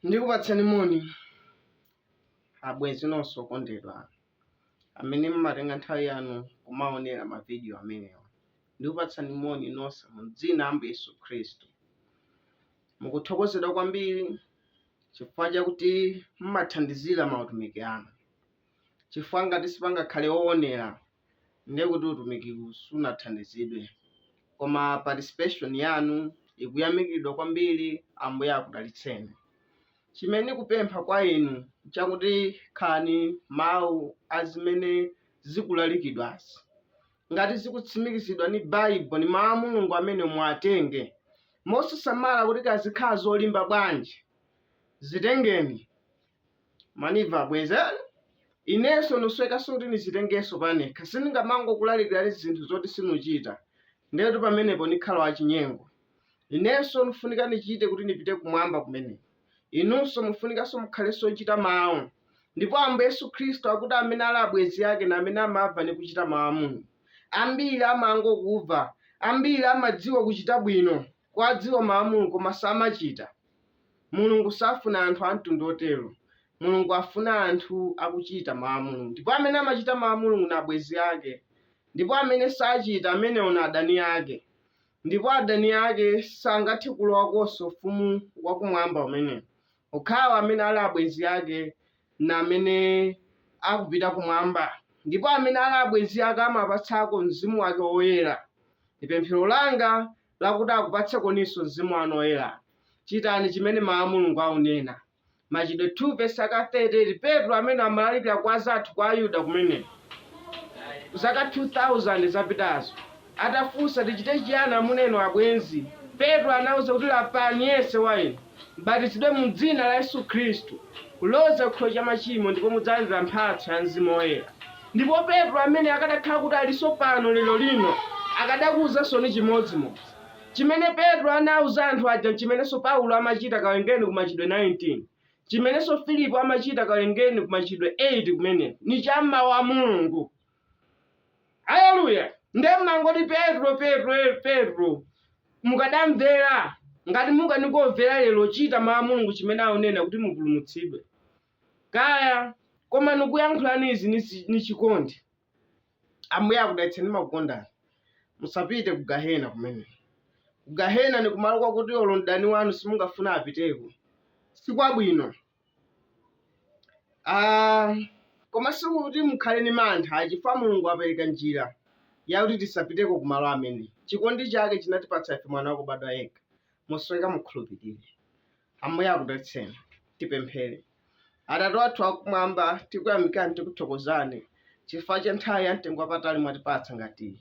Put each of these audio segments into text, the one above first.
ndikupatsani moni abwenzi nonse okondedwa amene mmatenga nthawi yanu kumaonera mavidiyo amenewa ndikupatsani moni nonse mu dzina la Ambuye Yesu Khristu. Mukuthokozedwa kwambiri chifukwa chakuti mmathandizira mautumiki anu. Chifukwa ngati sipangakhale owonera ndiye kuti utumikiwu sunathandizidwe. Koma participation yanu ikuyamikidwa kwambiri Ambuye akudalitseni. Chimene ndikupempha kwa inu nchakuti khalani mawu a zimene zikulalikidwazi. Ngati zikutsimikizidwa ni Bible ni mawu a Mulungu amene muwatenge mosasamala kuti kaya zikhala zolimba bwanji zitengeni mwanimva abwenzi inenso nusowekanso kuti nizitengenso panekha siningamangokulalikirani zinthu zoti sinuchita ndetu pamenepo nikhala wachinyengo inenso nufunika nichite kuti nipite kumwamba kumeneko inunso mufunikanso mukhalenso ochita mawu ndipo ambuye yesu khristu akuti amene ali abwenzi ake na amene amamva ni kuchita mawu a mulungu ambiri amangokumva ambiri amadziwa kuchita bwino kuwadziwa mawu a mulungu koma samachita mulungu safuna anthu a mtundu otero mulungu afuna anthu akuchita mawu a mulungu ndipo amene amachita mawu a mulungu na abwenzi ake ndipo amene sachita amenewo na adani ake Ndipo adani ake sangathe kulowakonso Ufumu wa Kumwamba umenewo. Okhawa amene ali abwenzi ake ni amene akupita kumwamba. Ndipo amene ali abwenzi ake amawapatsako mzimu wake woyera. Ni pemphero langa lakuti akupatsekoninso mzimu wanu woyera. Chitani chimene Mawu a Mulungu aunena. Machitidwe 2 vesi yake 38 Petro amene amalalikira kwa azathu kwa ayuda kumeneko zaka 2000 zapitazo atafunsa tichite chiyani amuna inu abwenzi Petro anauza kuti lapani yense wa inu mbatizidwe mu dzina la Yesu Khristu kuloza chikhululukiro cha machimo ndipo mudzalandira mphatso ya Mzimu Woyera ndipo Petro amene akadakhala kuti alinso pano lero lino akadakuuzansoni chimodzimodzi Chimene Petro anauza anthu aja n'chimenenso Paulo amachita, kawerengeni ku Machitidwe 19. Chimenenso Filipo amachita, kawerengeni ku Machitidwe 8 kumeneko. Ni cha m'Mawu a Mulungu. Aleluya! Nde m'mangoti Petro, Petro, Petro. Mukadamvera, ngati mukanikumvera lero, chita Mawu a Mulungu chimene aunena kuti mupulumutsidwe. Kaya, koma nikuyankhulani izi ni si- ni chikondi. Ambuye akudalitseni ndimakukondani. Musapite ku gahena kumene. Ku gahena ni kumalo kwakuti olo mdani wanu simungafuna apiteko. Si kwabwino. Ah, koma sikuti mukhale ni mantha chifukwa Mulungu wapereka njira yakuti tisapiteko ku malo amene. Chikondi chake chinatipatsa ife mwana wakubadwa yekha. Musoweka mukhulupirire. Ambuye akudalitseni. Tipemphere. Atate athu akumwamba, tikuyamikani tikuthokozani chifukwa cha nthawi ya mtengo wapatali mwatipatsa ngati iyi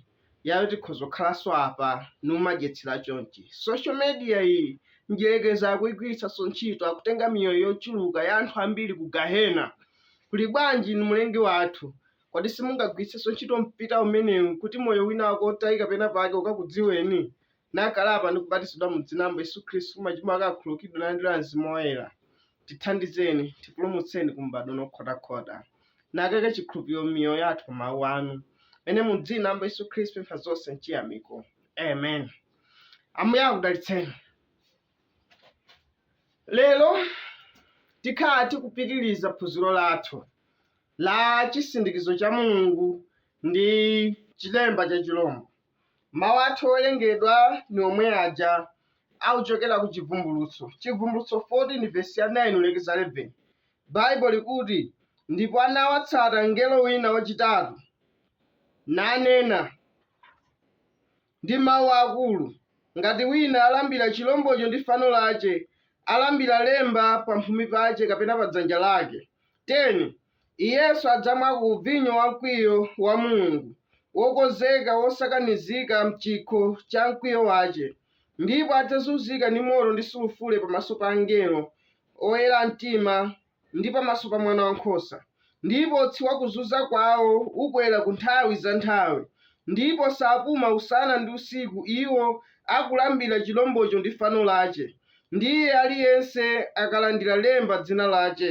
yakuti tikhoza kukhalanso apa n'kumadyetsera chonchi. Social media iyi mdyerekezi akuigwiritsanso ntchito akutenga miyoyo yochuluka ya anthu ambiri ku gahena. Kuli bwanji inu mlengi wathu? Kodi simungagwiritsenso ntchito mpita umenewu kuti moyo wina wake wotayika pena pake ukakudziweni? nakalapa ndi kubatizidwa mu dzina la Ambuye Yesu Khristu, machimo ake akhululukidwe nalandira Mzimu Woyera, tithandizeni, tipulumutseni ku m'badwo uno wokhotakhota, nakaike chikhulupiriro m'miyoyo yathu pa mawu anu, mene mu dzina la Ambuye Yesu Khristu tipempha zonse mchiyamiko. Amen. Ambuye akudalitseni. Lero tikhala tikupitiriza phunziro lathu la chisindikizo cha Mulungu ndi chilemba cha chilombo. Mawu athu owerengedwa ni omwe aja akuchokera ku Chivumbulutso, Chivumbulutso 14 vesi ya 9 kulekeza 11. Baibo likuti, Ndipo anawatsata mngelo wina wachitatu, nanena ndi mawu akulu, Ngati wina alambira chilombocho ndi fano lache, alambira lemba pamphumi pache kapena padzanja lache, 10 Iyenso adzamwa ku vinyo wa mkwiyo wa Mulungu, wokonzeka wosakanizika m'chikho cha mkwiyo wache, ndipo adzazunzika ndi moto ndi sulufure pamaso pa angelo, oyera mtima, ndi pamaso pa Mwana wa nkhosa, ndipo utsi wa kuzunza kwawo ukwera ku nthawi za nthawi, ndipo sapuma usana ndi usiku iwo akulambira chilombocho ndi fano lache, ndi iye aliyense akalandira lemba dzina lache.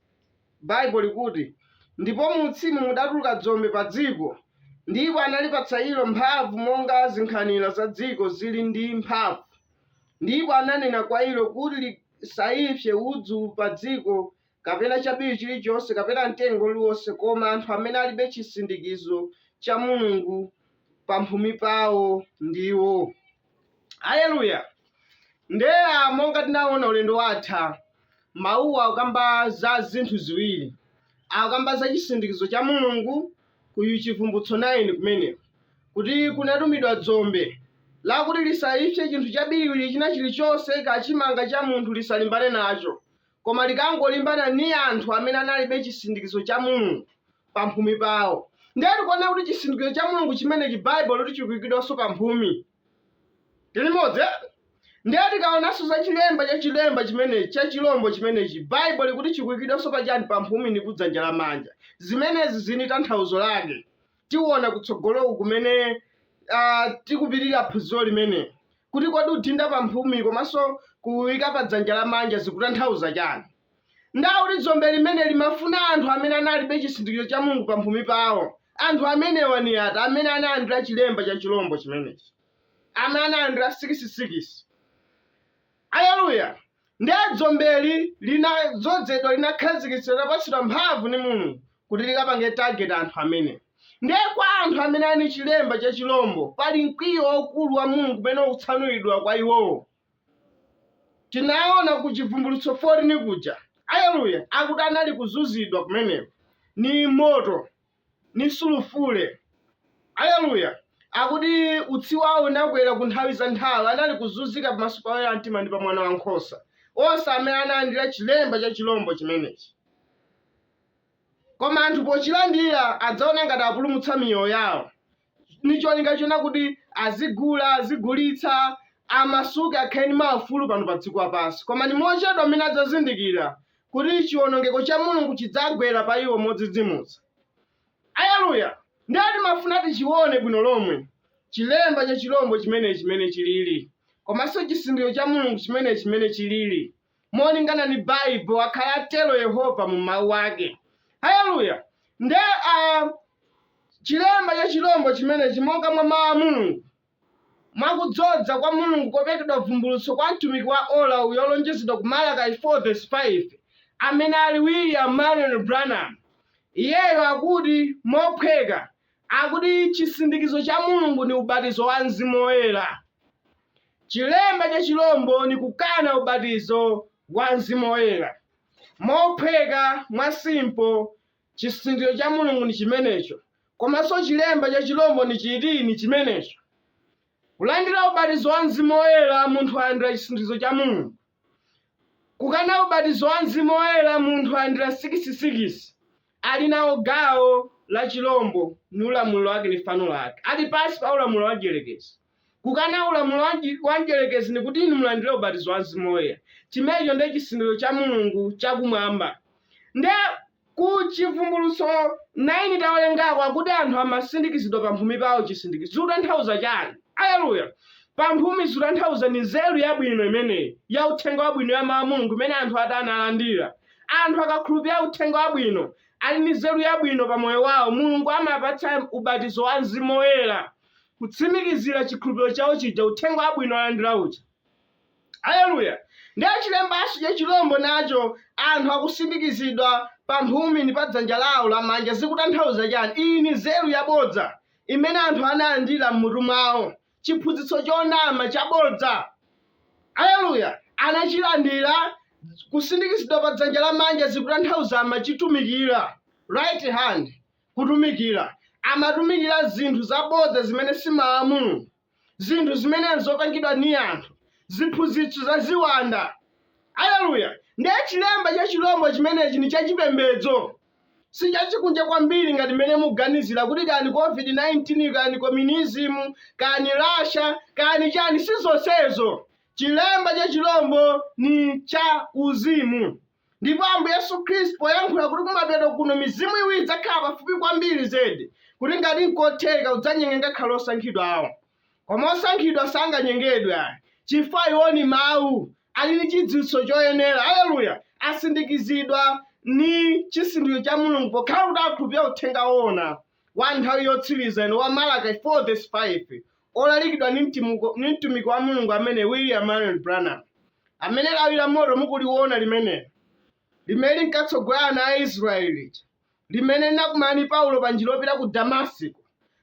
Baibo likuti, Ndipo mu utsimu mudatuluka dzombe pa dziko, ndipo analipatsa ilo mphamvu monga zinkhanira za dziko zili ndi mphamvu, ndipo ananena kwa ilo kuti lisaipse udzu pa dziko, kapena chabiriwiri chilichonse, kapena mtengo uliwonse, koma anthu amene alibe chisindikizo cha Mulungu pamphumi pawo ndiwo. Aleluya! Nde a monga tinaona ulendo watha, mawuwa akukamba za zinthu ziwiri. Akukamba za chisindikizo cha Mulungu ku Chivumbulutso 9 kumeneko, kuti kunatumidwa dzombe lakuti lisaipse chinthu chabiriwiri china chilichonse, kachimanga cha munthu lisalimbane nacho, Koma likangolimbana ni anthu amene analibe cisindikizo ca Mulungu pamphumi pawo. Ndiye tikuona kuti cisindikizo ca Mulungu cimeneci Baibo likuti cikuikidwanso pamphumi. Tili limodzi e? Ndiye tikaonanso za cilemba ca cilemba cimeneci, ca cilombo cimeneci, Baibo likuti cikuikidwanso paciyani? Pamphumi ni kudzanja lamanja. Zimenezi zili ni tanthauzo lake. tiona kutsogoloku kumene ah, tikupitirira phunziro limene kuti kodi udinda pa mphumi komanso kuyika pa dzanja lamanja zikutanthauza chani ndiye kuti dzombe limene limafuna anthu amene analibe chisindikizo cha mulungu pa mphumi pawo anthu amenewa ni ati amene analandira chilemba cha chilombo chimenechi amene analandira sikisisikisi aleluya Ndiye dzombeli linadzozedwa, linakhazikitsidwa, linapatsidwa mphamvu ni Mulungu kuti likapange target anthu amene. Ndiye kwa anthu amene ali ni chilemba cha chilombo, pali mkwiyo waukulu wa Mulungu umene ukutsanulidwa kwa iwowo. Tinaona ku Chivumbulutso 14 kuja, aleluya, akuti anali kuzunzidwa kumeneko ni moto ni sulufule. Aleluya! Akuti utsi wawo unakwera ku nthawi za nthawi, anali kuzunzika pamaso pa oyera mtima ndi pa mwana wa nkhosa, onse amene analandira chilemba cha chilombo chimenechi. Koma anthu pochilandira adzaona ngati apulumutsa miyoyo yawo, ni cholinga chona kuti azigula azigulitsa amasuke akhale ni maufulu pano pa dziko lapansi koma ni mochedwa mmene adzazindikira kuti chiwonongeko cha mulungu chidzagwera pa iwo modzidzimutsa aleluya ndiye timafuna tichione bwino lomwe chilemba cha chilombo chimene chimene chilili komanso chisindikizo cha mulungu chimene chimene chilili molingana ni Baibo, pakuti atelo Yehova mu Mawu ake. Haleluya! Nde a cilemba ca cilombo cimeneci monga mwa Mawu a Mulungu, mwa kudzoza kwa Mulungu kopelekedwa bvumbulutso kwa mtumiki wa ola uyu wolonjezedwa ku Malachi 4 vesi 5, amene ali William Marrion Branham. Iyeyo akuti mophweka, akuti chisindikizo cha Mulungu ni ubatizo wa Mzimu Woyera. Chilemba cha chilombo ni kukana ubatizo wa Mzimu Woyera. Mophweka mwa simpo chisindikizo cha Mulungu ni chimenecho, komanso chilemba cha chilombo ni chiti ni chimenecho. Kulandira ubatizo wa Mzimu Woyera munthu alandira chisindikizo cha Mulungu. Kukana ubatizo wa Mzimu Woyera munthu alandira sikisi-sikisi, ali nawo gawo la chilombo ni ulamuliro wake ni fano lake, ali pansi pa ulamuliro wa mdyerekezi. Kukana ulamuliro wa mdyi, wa mdyerekezi ni kuti inu mulandire ubatizo wa Mzimu Woyera. Chimenecho ndiye chisindikizo cha Mulungu cha Kumwamba. Ndiye Ku Chivumbulutso 9 tawerengako akuti anthu amasindikizidwa pa mphumi pawo chisindikizo. Zikutanthauza chani? Aleluya! Pa mphumi zikutanthauza ni nzeru yabwino imeneyi ya uthenga wabwino ya Mau a Mulungu imene anthu atani analandira. Anthu akakhulupirira uthenga wabwino ali ni nzeru yabwino pa moyo wawo, Mulungu amapatsa ubatizo wa Mzimu Woyera kutsimikizira chikhulupiriro chawo chija uthenga wabwino alandira uja. Aleluya! Ndiye chilembacho cha chilombo nacho, anthu akusindikizidwa pa mphumi ni pa dzanja lawo lamanja, zikutanthauza chani? Iyi ni nzeru yabodza imene anthu analandira m'mutu mwawo, chiphunzitso chonama chabodza. Aleluya! Anachilandira, kusindikizidwa pa dzanja lamanja zikutanthauza amachitumikira, right hand, kutumikira, amatumikira zinthu zabodza zimene si Mawu a Mulungu. zinthu zimene zopangidwa ni anthu ziphunzitso za ziwanda aleluya ndiye chilemba cha chilombo chimenechi ni chachipembedzo si chachikunja kwambiri ngati mmene muganizira kuti kani covid-19 kani communism kani russia kani chani si zonsezo chilemba cha chilombo ni cha uzimu Ndipo Ambuye Yesu Khristu poyankhula kuti kumapeto kuno mizimu iwiri idzakhala pafupi kwambiri zedi kuti ngati nkotheka udzanyenge ngakhale osankhidwa awo. Koma osankhidwa sanganyengedwe ayi. Chifukwa iwo ni mawu ali ni chidziwitso choyenera. Aleluya! Asindikizidwa ni chisindikiro cha Mulungu pokhala kuti akhulupirira uthenga woona. wa nthawi yotsiriza ino wa Malachi 4 verse 5 olalikidwa ni mtumiki wa Mulungu amene William Marion Branham amene lawi la moto mukuliona limenelo limene linkatsogolera ana a Israeli lija limene linakumana ndi Paulo pa njira yopita ku Damasiko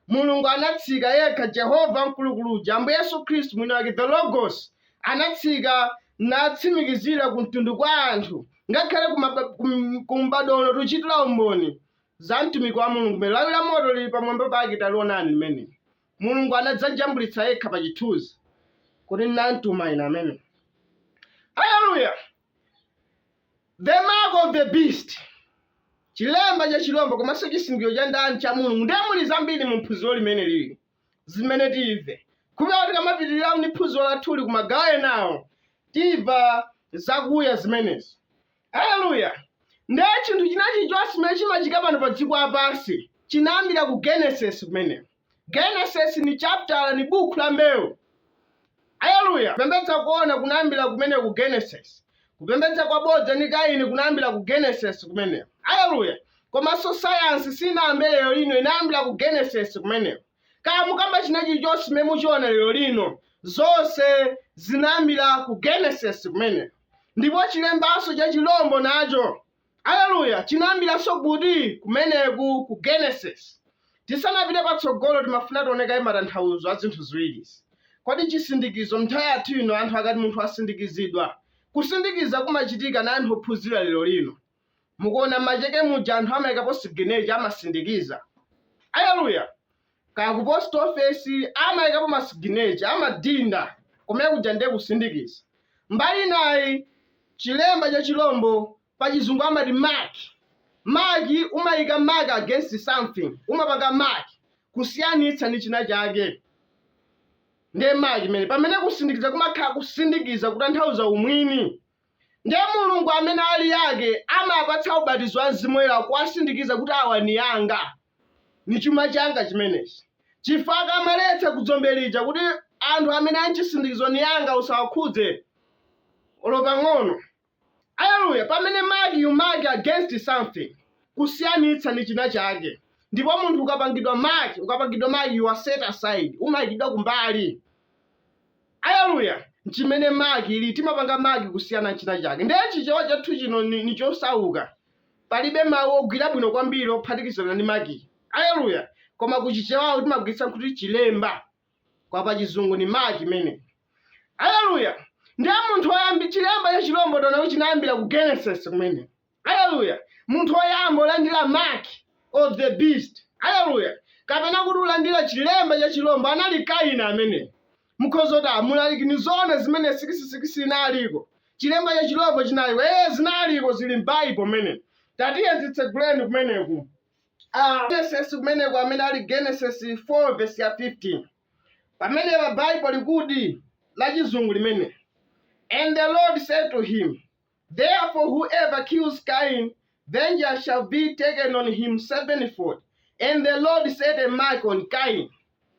Mulungu anatsika yekha Jehova mkulukulu uja Ambuye Yesu Khristu mwini wake the Logos anatsika natsimikizira ku mtundu kwa anthu ngakhale kumbadwo uno tuchitira umboni za mtumiki wa Mulungu mmene lawi la moto lili pamwamba pake talionani limene Mulungu anadzajambulitsa yekha pa chithunzi kuti ndinamtuma ine amene aleluya the mark of the beast chilemba cha chilombo komanso chisindikiro cha ndani cha mulungu ndiye muli zambiri mu phunziro limene lili zimene timve kupita kuti tikamapitirira ni phunziro lathuli ku magawo enawo timva zakuya zimenezi aleluya ndiye chinthu china chilichonse chimene chimachitika pano pa dziko lapansi chinayambira ku genesis kumeneko genesis ni chaptala ni buku la mbewu Aleluya! Kupembedza koona kunayambira kumene ku Genesis. Kupembedza kwabodza ni Kaini kunayambira ku Genesis kumeneko. Aleluya! Komanso sayansi siinayambe lero lino, inayambira ku Genesis kumeneko. Kaya mukamba china chilichonse chimene muchiona lero lino, zonse zinayambira ku Genesis kumeneko. Ndipo chilembanso cha chilombo nacho Aleluya! Chinayambiranso kuti kumeneku? Ku Genesis. Tisanapite patsogolo, timafuna tione kaye matanthauzo a zinthu ziwiri izi. Kodi chisindikizo. M'nthawi yathu ino, anthu akati munthu wasindikizidwa, kusindikiza kumachitika na anthu ophunzira lero lino. Mukuona, m'macheke muja anthu amaikapo siginecha, amasindikiza. Aleluya! kaya ku post office amayikapo ma signature amadinda kumene kuja ndiye kusindikiza, mbali inayi chilemba cha chilombo pachizungu amati mark, mark umayika mark against something umapanga mark kusiyanitsa ndi chinachake ndiye mark imene pamene kusindikiza kumakhala kusindikiza kutanthauza umwini ndiye Mulungu amene ali ake amapatsa ubatizo wa Mzimu Woyera kuwasindikiza kuti awa ni anga Ni cuma canga cimeneci. Cifukwa akamaletsa ku dzombe lija kuti anthu amene a n'cisindikizo ni anga usawakhudze olo pang'ono. Aleluya! Pamene mark you mark against something, kusiyanitsa ni cinacake. Ndipo munthu ukapangidwa mark, ukapangidwa mark you are set aside, umaikidwa kumbali. Aleluya! N'cimene mark ili, timapanga mark kusiyana n'cinacake. Ndiye cichewa cathu cino ni, ni cosauka. Palibe mawu ogwira bwino kwambiri ophatikizana ndi mark. Aleluya! Koma ku Chichewawu timagwiritsa kuti chilemba. Koma pa Chizungu ndi mark imene. Aleluya! Ndiye munthu woyambi, chilemba cha chirombo taona kuti chinayambira ku Genesis kumene. Aleluya! Munthu woyamba olandira mark of the beast. Aleluya! Kapena kuti olandira chilemba cha chirombo anali Kaini amene. mukhoza kumati amulaliki ni zoona zimene sikisisikisi inaliko chilemba cha chilombo chinaliko ee zinaliko zili m'baibulo mmene tatiye zitseguleni kumeneku Ah, genesis kumeneku amene ali genesis 4 vesi ya 15 pamene pa baibo likuti la chizungu limene and the lord said to him Therefore whoever kills Cain, vengeance shall be taken on him sevenfold. And the Lord set a mark on Cain.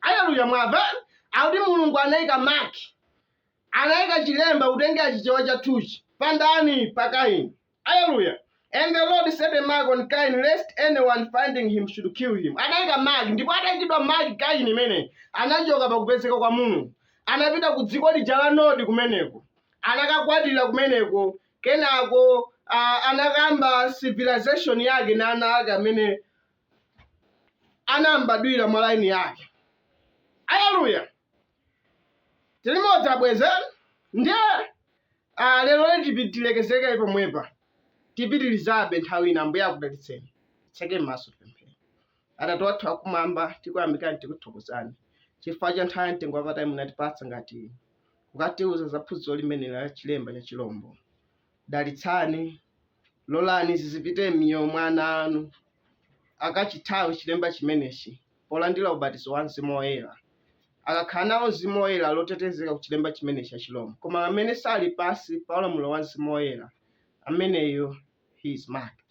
Hallelujah, mwava. Akuti Mulungu anaika mark. Anaika chilemba kutengera chichewa chathuchi. Pandani pa Cain. Hallelujah. And the Lord set a mark on Cain, lest anyone finding him should kill him. Anaika mark, ndipo ataikidwa mark Cain imene anachoka pakupezeka kwa Mulungu. Anapita ku dziko lija la Nodi kumeneko. anakakwatira kumeneko kenako a, anakayamba civilization yake na ana ake amene anambadwira mwa laini yake aleluya tilimodzi abwenzi ndiye ah, lero letipi tilekezeke pomwepa tipitilizabe nthawi ina ambuye akudalitseni titseke m'maso tipemphere Atate wathu akumwamba, tikuyamikani tikuthokozani chifukwa cha nthawi ya mtengo wapatali munatipatsa ngati kukatiuza za phunziro limene la chilemba cha chilombo. Dalitsani, lolani zizipite m'miyoyo mwa ana anu akachithawe chilemba chimenechi polandira ubatizo wa mzimu woyera akakhala nawo mzimu woyera ali otetezeka ku chilemba chimenechi cha chilombo koma amene sali pasi pa ulamuliro wa mzimu woyera ameneyo he is marked